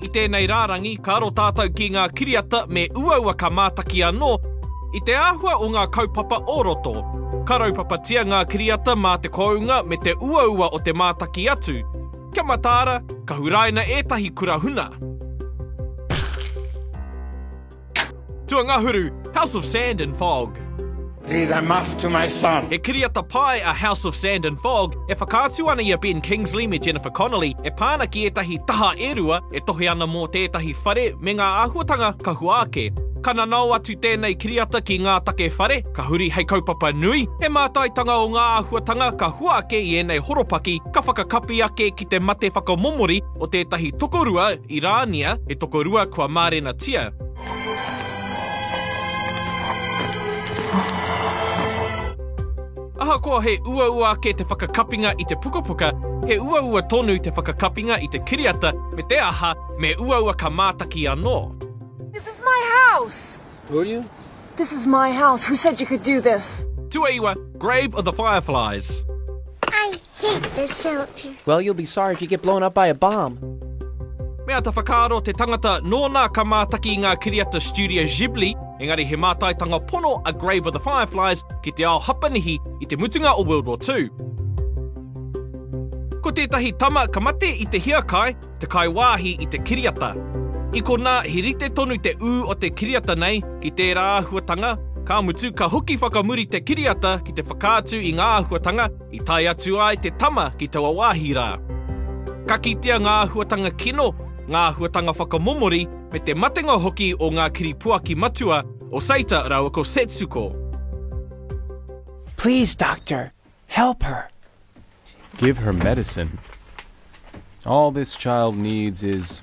I tēnei rārangi, ka aro tātou ki ngā kiriata me uaua ka mātaki anō i te āhua o ngā kaupapa o roto. Ka raupapatia ngā kiriata mā te kounga me te uaua o te mātaki atu. Kia mataara, ka huraina ētahi kura huna. Tuangahuru, House of Sand and Fog. He's a must to my son. He kiriata pae a House of Sand and Fog e whakaatu ana i a Ben Kingsley me Jennifer Connelly e pā ana ki ētahi taha e rua e tohe ana mō tētahi whare me ngā āhuatanga ka hua ake. Ka nanao atu tēnei kiriata ki ngā take whare, ka huri hei kaupapa nui, he mātaitanga o ngā āhuatanga ka hua ake i ēnei horopaki, ka whakakapi ake ki te mate whakamomori, o tētahi tokorua i Rānia, he tokorua kua mārenatia. Ahakoa he uaua ake te whakakapinga i te pukapuka, he uaua tonu te whakakapinga i te kiriata me te aha, me uaua ka mātaki anō. This is my house! Who are you? This is my house, who said you could do this? Tuaiwa, Grave of the Fireflies. Ai! Heat the shelter. Well, you'll be sorry if you get blown up by a bomb. Me āta whakaaro te tangata nōna ka mātaki i ngā kiriata Studio Ghibli, engari he mātaitanga pono a Grave of the Fireflies ki te ao Hapanihi i te mutunga o World War II. Ko tētahi tama ka mate i te hiakai, te kaiwāhi i te kiriata. I konā, he rite tonu te ū o te kiriata nei ki tērā āhuatanga, ka mutu ka hoki whakamuri te kiriata ki te whakaatu i ngā āhuatanga I tae atu ai te tama ki taua wāhi rā. Ka kitea ngā āhuatanga kino, ngā āhuatanga whakamomori, me te matenga hoki o ngā kiripuaki matua o Seita rāua ko Setsuko. Please, doctor, help her. Give her medicine. All this child needs is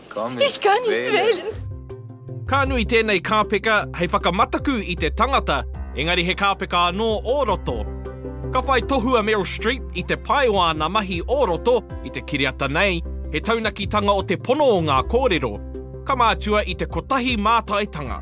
He's gone, he's Australian. Ka nui tēnei kāpeka hei whakamataku i te tangata, engari he kāpeka anō o roto. Ka whai tohu a Meryl Streep i te pai o āna mahi o roto i te kiriata nei, he taunakitanga o te pono o ngā kōrero, ka mātua i te kotahi mātaitanga.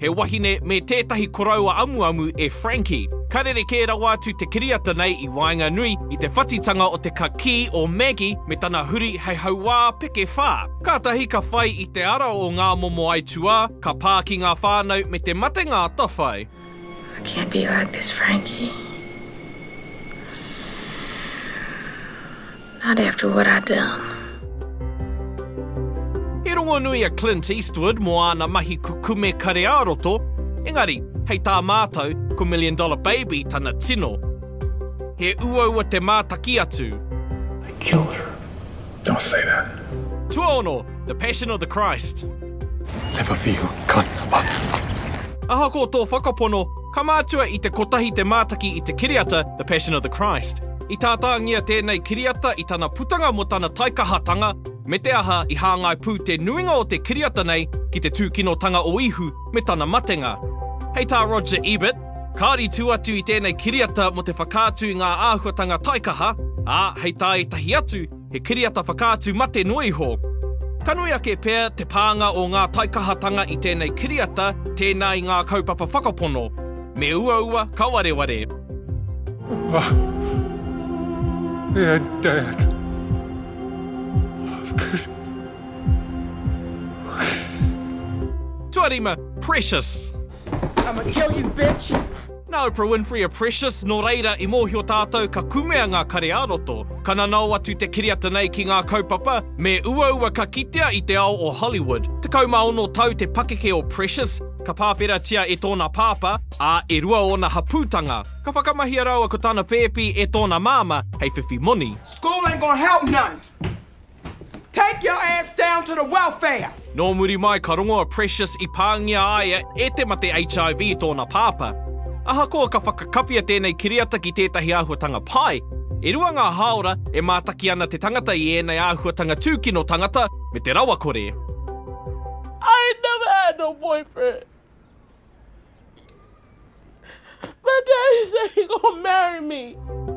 he wahine me tētahi koroua amuamu e Frankie. Ka rerekē rawa atu te kiriata nei i waenganui i te whatitanga o te kakī o Maggie me tana huri hei hauā peke whā. Kātahi ka whai i te ara o ngā momo aituā, ka pā ki ngā whānau me te matenga atawhai. I can't be like this Frankie. Not after what I done. I rongonui a Clint Eastwood mō āna mahi kukume kare-ā-roto, engari, hei tā mātou, ko Million Dollar Baby tana tino. He uaua te mātaki atu. I killed her. Don't say that. Tuaono, The Passion of the Christ. Never for you, cunt. Ahakoa tō whakapono, ka mātua i te kotahi te mātaki i te kiriata The Passion of the Christ. I tātāngia tēnei kiriata i tana putanga mō tana taikahatanga, me te aha i hāngai pū te nuinga o te kiriata nei ki te tūkinotanga o Ihu me tana matenga. Hei tā Roger Ebert, Kāore i tū atu i tēnei kiriata mō te whakaatu i ngā āhuatanga taikaha, ā, hei tā ētahi atu, He kiriata whakaatu mate noa iho. Ka nui ake pea te pānga o ngā taikahatanga i tēnei kiriata tēnā i ngā kaupapa whakapono, me uaua ka wareware. Mama, me and dad, I've killed Wiki. Tuarima, Precious. I'ma kill you bitch! Nā Oprah Winfrey a Precious, nō reira, i mōhio tātou ka kumea ngā kare ā-roto. Ka nanao atu te kiriata nei ki ngā kaupapa, me uaua ka kitea i te ao o Hollywood. Tekau mā ono tau te pakeke o Precious, ka pāwheratia e tōna pāpā, ā, e rua ōna hapūtanga. Ka whakamahia rāua ko tana pēpi e tōna māmā hei whiwhi moni. School ain't gonna help none! Take your ass down to the welfare! Nō muri mai ka rongo a Precious i pāngia a ia e te mate HIV i tōna pāpā. Ahakoa ka whakakawhia tēnei kiriata ki tētahi āhuatanga pai, e rua ngā hāora e mātaki ana te tangata i ēnei āhuatanga tūkino tangata me te rawakore. I never had no boyfriend. My daddy said he gonna marry me.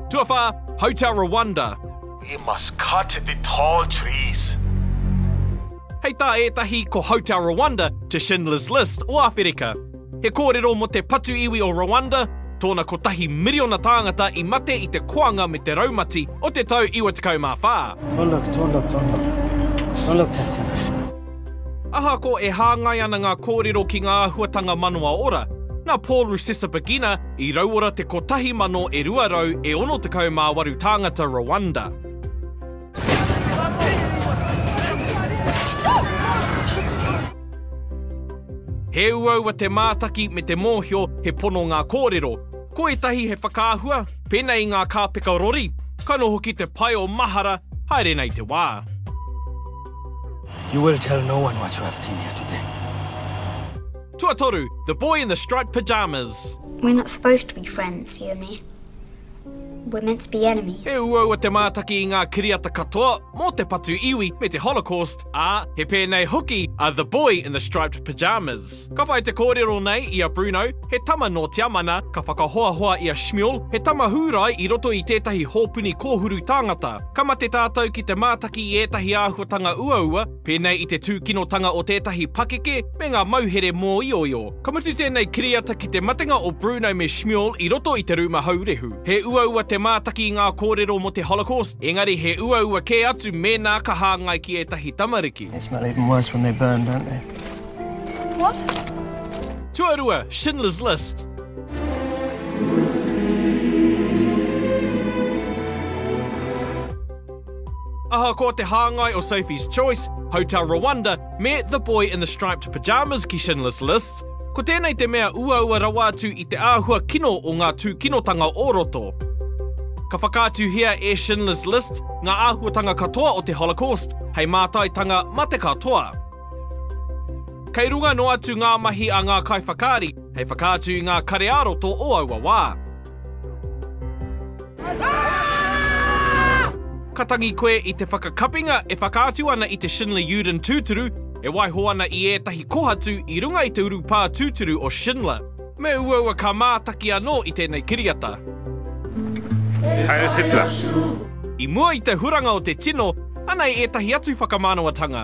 Tuawhā, Hotel Rwanda. We must cut the tall trees. Hei tā ētahi ko Hotel Rwanda te Schindler's List o Āwherika. He kōrero mō te patu iwi o Rwanda, tōna kotahi miriona tāngata i mate i te koanga me te raumati o te tau 94. Don't look, don't look, don't look. Don't look, Tessy. Ahakoa e hāngai ana ngā kōrero ki ngā āhuatanga manawa ora, nā Paul Rusesabagina i rauora te 1,268 tāngata Rwanda. He uaua te mātaki me te mōhio he pono ngā kōrero. Ko ētahi he whakaahua, pēnei i ngā kāpeka rori, ka noho ki te pae o mahara, haere nei te wā. You will tell no one what you have seen here today. Tuatoru, The Boy in the Striped Pyjamas. We're not supposed to be friends, you and me. We're meant to be enemies. He uaua te mātaki i ngā kiriata katoa mō te patu iwi me te Holocaust, ā, he pēnei hoki a The Boy in the Striped Pyjamas. Ka whai te kōrero nei i a Bruno, he tama nō Tiamana, ka whakahoahoa i a Shmuel, he tama Hūrai i roto i tētahi hōpuni kōhuru tāngata. Ka mate tātou ki te mātaki i ētahi āhuatanga uaua, pēnei i te tūkinotanga o tētahi pakeke me ngā mauhere mōioio. Ka mutu tēnei kiriata ki te matenga o Bruno me Shmuel i roto i te rūma haurehu. He uaua te mātaki i ngā kōrero mō te Holocaust, engari he uaua kē atu mēnā ka hāngai ki ētahi tamariki. They smell even worse when they burn, don't they? What? Tuarua, Schindler's List. Ahakoa te hāngai o Sophie's Choice, Hotel Rwanda me The Boy in the Striped Pyjamas ki Schindler's List, ko tēnei te mea uaua rawa atu i te āhua kino o ngā tūkinotanga o roto. Ka whakaatuhia e Schindler's List ngā āhuatanga katoa o te Holocaust hei mātaitanga mate katoa. Kei runga noa atu ngā mahi a ngā kaiwhakaari, Hei whakaatu i ngā kare ā-roto o aua wā. Ka tangi koe i te whakakapinga e whakaatu ana i te Schindler Uden tūturu, e waiho ana i ētahi kohatu i runga i te urupā tūturu o Schindler. Me uaua ka mātaki anō i tēnei kiriata. Heil Hitler! I mua i te huranga o te tino, anei ētahi atu whakamānawa-tanga.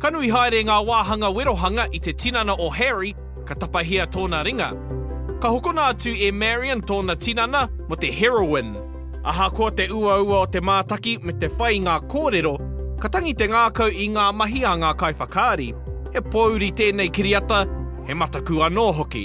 Ka nui haere ngā wāhanga werohanga i te tinana o Harry, ka tapahia tōna ringa. Ka hokona atu e Marion tōna tinana mō te heroin. Ahakoa te uaua o te mātaki me te whai i ngā kōrero, ka tangi te ngākau i ngā mahi a ngā kaiwhakaari. He pōuri tēnei kiriata, he mataku anō hoki.